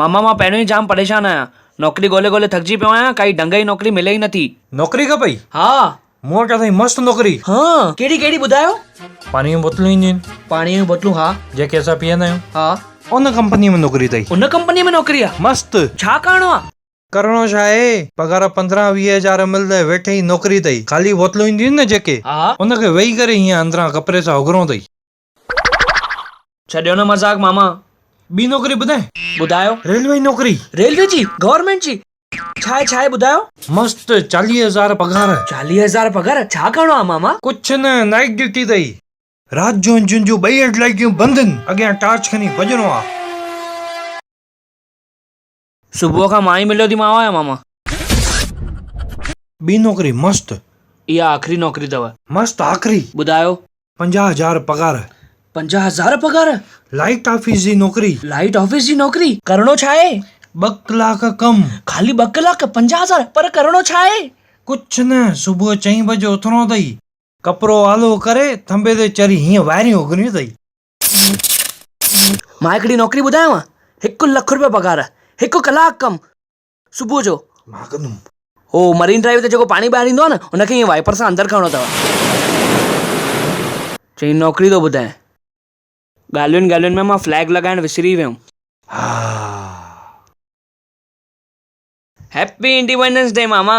ماما مان پهريون ئي جام پريشان آهيان. نوڪري ڳولي ڳولي ٿڪجي پيو آهيان ڪائي ڍنگ جي نوڪري ملي ئي نٿي. نوڪري کپئي؟ ها. مون وٽ اٿئي مست نوڪري. هان. ڪهڙي ڪهڙي ٻڌايو. پاڻي جون بوتلون اينديون آهن. پاڻي جون بوتلون ها. جيڪي اسان پيئندا آهيون. ها. ان ڪمپنيء ۾ نوڪري اٿئي. ان ڪمپنيء ۾ نوڪري آ. مست. ڇا ڪرڻو آ. ڪرڻو ڇا آهي. پگهار پندرهن ويهه هزار ملندئي ويٺئي نوڪري اٿئي. خالي بوتلون اينديون آهن نه جيڪي. ها. ان کي ويهي ڪري هيئن اندران ڪپري سان اگهرڻو اٿئي. ڇڏيو نه مذاق ماما ٻي نوڪري ٻڌائين. ٻڌايو. ريلوي جي نوڪري. ريلوي جي؟ گورنمينٽ جي؟ ڇا آهي ڇا آهي ٻڌايو. مست چاليهه هزار پگهار. چاليهه هزار پگهار ڇا ڪرڻو آهي ماما. ڪڇ نه نائيٽ ڊيوٽي اٿئي. رات جو انجن جون ٻئي هيڊ لائيٽون بند هن اڳيان ٽارچ کڻي ڀڄڻو آهي. صبح کان مان ئي مليو ٿي مانء يا ماما. ٻي نوڪري مست. اها آخري نوڪري اٿو. مست آخري. ٻڌايو. پنجاهه هزار پگهار. پنجاهه هزار پگهار. لائيٽ آفيس جي نوڪري. لائيٽ آفيس جي نوڪري. ڪرڻو ڇا آهي؟ ٻه ڪلاڪ ڪم. خالي ٻه ڪلاڪ پنجاهه هزار پر ڪرڻو ڇا آهي؟ ڪڇ نه صبح چئين بجي اٿڻو اٿئي. ڪپرو آلو ڪري ٿنڀي تي چري هيئن وائريون اگهڻيون اٿئي. مان هڪڙي نوڪري ٻڌايانو هڪ لک روپيا پگهار هڪ ڪلاڪ ڪم صبح جو مان ڪندم هو مرين ڊرائيو تي جيڪو پاڻي ٻاهر ايندو آهي نه ان کي ائين وائپر سان اندر ڪرڻو اٿو چئين نوڪري ٿو ٻڌايان ڳالهين ڳالهين ۾ مان فليگ لڳائڻ وسري ويم ها هيپي انڊيپنڊنس ڊي ماما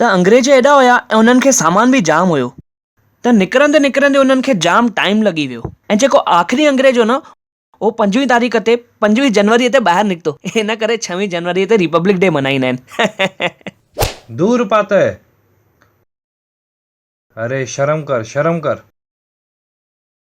ته انگريز ايڏا هيا ۽ انهن کي سامان به جام هيو ته نڪرندي نڪرندي انهن کي جام ٽائيم لڳي ويو ۽ جيڪو آخري انگريز هو نه اهو پنجويهه تاريخ تي پنجويهه جنوري تي ٻاهر نڪتو ان ڪري ڇهوين جنوري تي ريپبلڪ ڊي منائيندا آهن. دور پاتئ اري شرم ڪر شرم ڪر.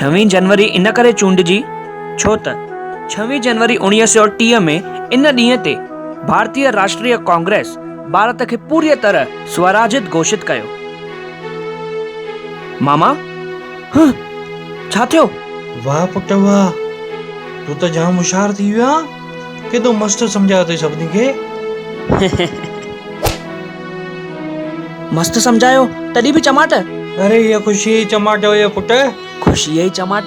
ڇوين جنوري ان ڪري چونڊجي ڇو ته ڇوين جنوري اوڻيهه سؤ ٽيهه ۾ ان ڏينهن تي ڀارتيه راشٽريه ڪانگريس ڀارت کي پوريء طرح سوراجيت گهوشت ڪيو. ماما، هه! ڇا ٿيو؟ واه پٽ واه! تون ته جام هوشيار ٿي ويو آهين. ڪيڏو مست سمجهايو اٿئي سڀني کي. مست سمجهايو تڏهن به چماٽ. اري هيء خوشيء جي چماٽ هئي پٽ. خوشيء جي چماٽ.